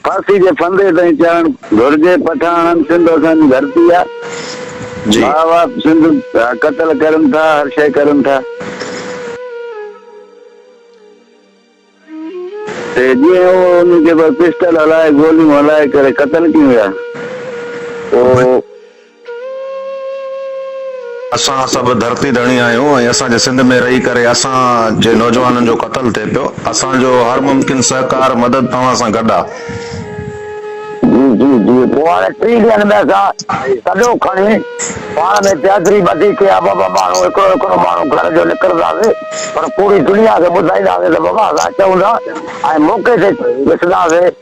ڦاسي جي ڦندي تائين چڙهڻ گهرجي پٺاڻن سنڌ اسان جي ڌرتي آ ڀاء واپ سنڌ قتل ڪرن ٿا هر شئي ڪرن ٿا تي جي هو ان کي پسٽل هلائي گوليون هلائي ڪري قتل ڪيون ويا او اسان سڀ ڌرتي ڌڻي آهيون ۽ اسان جي سنڌ ۾ رهي ڪري اسان جي نوجوانن جو قتل ٿئي پيو اسان جو هر ممڪن سهڪار مدد توهان سان گڏ آهي. جي جي جي پوء هاڻي ٽي ڏينهن ۾ اسان تڏو کڻي پاڻ ۾ چهدري ٻڌي ڪي ها ٻه ٻه ماڻهو هڪڙو هڪڙو ماڻهو گهر جو نڪرنداسين پر پوري دنيا کي ٻڌائينداسين ته بابا اسان اچون ٿا ۽ موقعي تي ڏسنداسين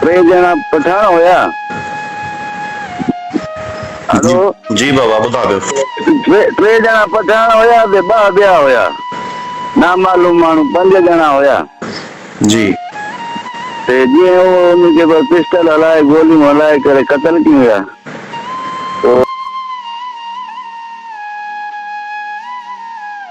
ٽي ڄڻا پٺاڻ هيا. جي هلو. جي بابا ٻڌان پيو. ٽي ڄڻا پٺاڻ هيا تي ٻه ٻيا هيا نامعلوم ماڻهو پنج ڄڻا هيا. جي. تي جنهن هو انهن کي پر پسٽل هلائي گوليون هلائي ڪري قتل ڪين ويا تو.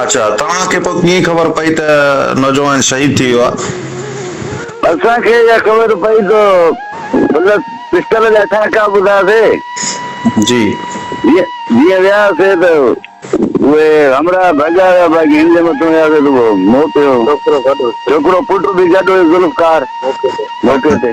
اڇا توهان کي پوء ڪيئن خبر پئي ته نوجوان شهيد ٿي ويو آهي؟ اسان کي اها خبر پئي ته هن پسٽل جا ٽانڪا ٻڌاسي. جي. جيئن وياسي ته اهي همراهه ڀڳا ويا باقي هن جي مٿو وياسي ته اهو موت هيو. ڇوڪرو پٽ به گڏ هيو ذوالفقار موقعي تي.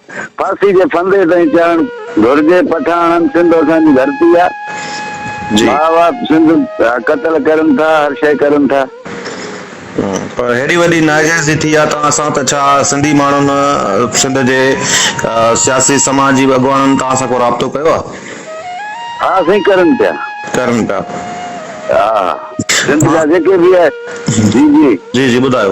ڦاسي جي ڦندي تائين چڙهڻ گهرجي پٺاڻن سنڌ اسان جي ڌرتي آ ڀاء واپ سنڌ قتل ڪرن ٿا هر شئي ڪرن ٿا. پر هيڏي وڏي ناجائزي ٿي آ توهان سان ته ڇا سنڌي ماڻهن سنڌ جي سياسي سماجي اڳواڻن توهان سان ڪو رابطو ڪيو آ. ها سائين ڪرن پيا. ڪرن پيا. ها سنڌ جا جيڪي به آهي جي جي. جي جي ٻڌايو.